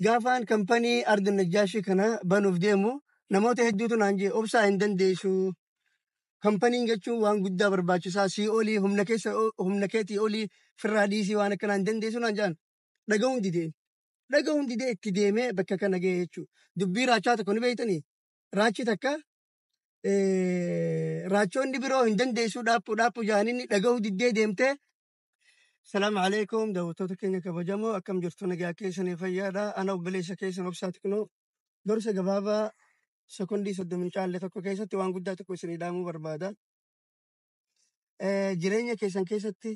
Gaafaan kampanii Ardi Najjaashii kana banuuf deemu namoota hedduutu naan jee obsaa hin dandeessu. Kampaniin jechuun waan guddaa barbaachisaa sii olii humna keessa humna keetii olii firraa dhiisii waan akkanaa hin dandeessu naan jaan dhaga'uun dideen. Dhaga'uun didee itti deemee bakka kana ga'e jechuudha. Dubbii raachaa tokko ni beektanii? Raachi takka raachoonni biroo hin dandeessuu dhaaphuu dhaaphuu jaaniin dhaga'uu diddee deemtee Salaamu alaikum daawwattoota keenya kabajamoo akkam jirtu nagaa keessanii fayyaadha ana obboleessa keessan obsaa xiqnoo gorsa gabaabaa sekondii soddoma hin caalle tokko keessatti waan guddaa tokko isinii dhaamuu barbaada Eh, jireenya keessan keessatti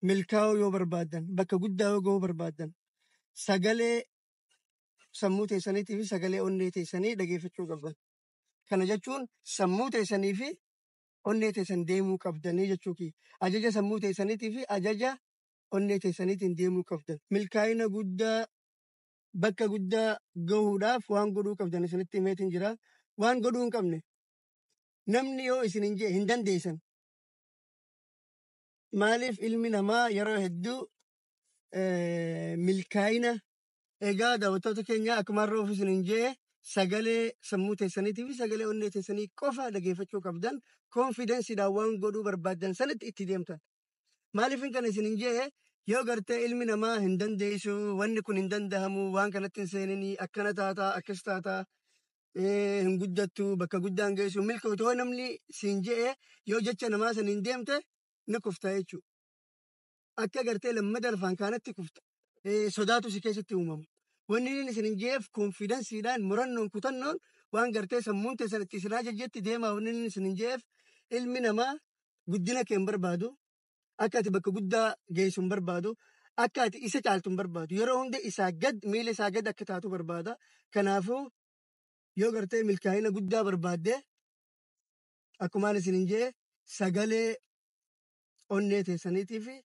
milkaa'uu yoo barbaaddan bakka guddaa yoo ga'uu barbaaddan sagalee sammuu teessaniitii fi sagalee onnee teessanii dhageeffachuu qabdan kana jechuun sammuu teessanii fi onnee teessan deemuu qabdanii jechuu kiyya. Ajaja sammuu teessaniitii fi ajaja onnee teessaniitiin deemuu qabdan. Milkaa'ina guddaa, bakka guddaa gahuudhaaf waan godhuu qabdan isinitti himeetiin jira. Waan godhuu hin qabne. Namni yoo isin hin jee hin dandeessan. Maaliif ilmi namaa yeroo hedduu eh, milkaa'ina Egaa daawwattoota keenya akkuma har'a ofiis hin jee sagalee sammuu teessaniitii fi sagalee onnee teessanii qofa dhageeffachuu qabdan koonfidensiidhaan waan godhuu barbaaddan sanitti itti deemtan. Maaliifin kana isin hin jee yoo gartee ilmi namaa hin dandeessu wanni kun hin dandahamu waan kanatti hin seeninii akkana taataa akkas taataa eh, hin guddattu bakka guddaa hin geessu milkootu yoo namni siin jee yoo jecha namaa saniin deemte ni kufta jechuudha. akka gartee lammada lafaan kaanatti kufta eh, sodaatu si keessatti uumamu. Wanni inni isin hin jeef konfidansiidhaan murannoon kutannoon waan gartee sammuun teessan itti isinaa jajjetti deemaa wanni inni isin hin jeef ilmi namaa guddina kee hin barbaadu akka ati bakka guddaa geessu hin barbaadu akka ati isa caaltu hin barbaadu yeroo hunda isaa gad miila isaa gad akka taatu barbaada kanaafuu yoo gartee milkaa'ina guddaa barbaadde akkumaan isin hin jee sagalee onnee teessaniitii fi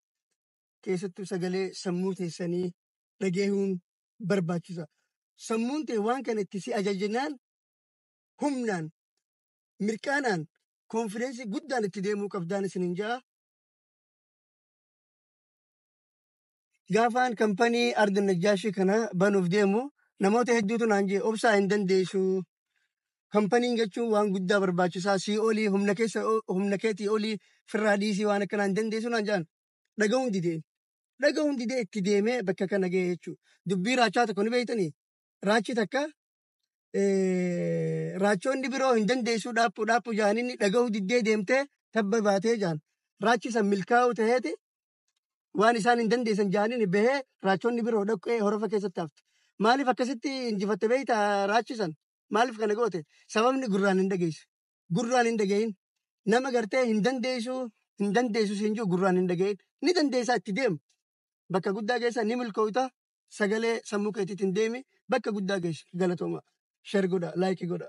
keessattuu sagalee sammuu teessanii dhageehuun barbaachisa. Sammuun tee waan kana itti si ajajnaan humnaan mirqaanaan konfideensii guddaan itti deemuu qabdaan isinin ja'a. Gaafaan kampanii Ardi Najjaashii kana banuuf deemu namoota hedduutu naan jee obsaa hin dandeessu. Kampaniin jechuun waan guddaa barbaachisaa sii olii humna keessa humna keetii olii firraa dhiisii waan akkanaa hin dandeessu naan jaan dhaga'uun dideen. Dhaga'uun didee itti deemee bakka kana ga'e jechuudha. Dubbii raachaa tokko ni beektanii? Raachi takka raachoonni biroo hin dandeessuu dhaaphuu dhaaphuu jaaninni dhaga'uu diddee deemtee tabba baatee jaan. Raachi san milkaa'uu ta'eeti waan isaan hin dandeessan jaaniin bahee raachonni biroo dhaqqee horofa keessatti hafte. Maaliif akkasitti injifatte beekta raachi san? Maaliif kana goote? Sababni gurraan hin dhageessu. Gurraan hin dhagahin. Nama gartee hin dandeessu hin dandeessu siin jiru gurraan hin dhagahin. Ni dandeessaa itti deemu. Bakka guddaa geessa ni milkoofta. Sagalee sammuu keetiitiin deemi. Bakka guddaa geessa. Galatooma. Share godha, like godha.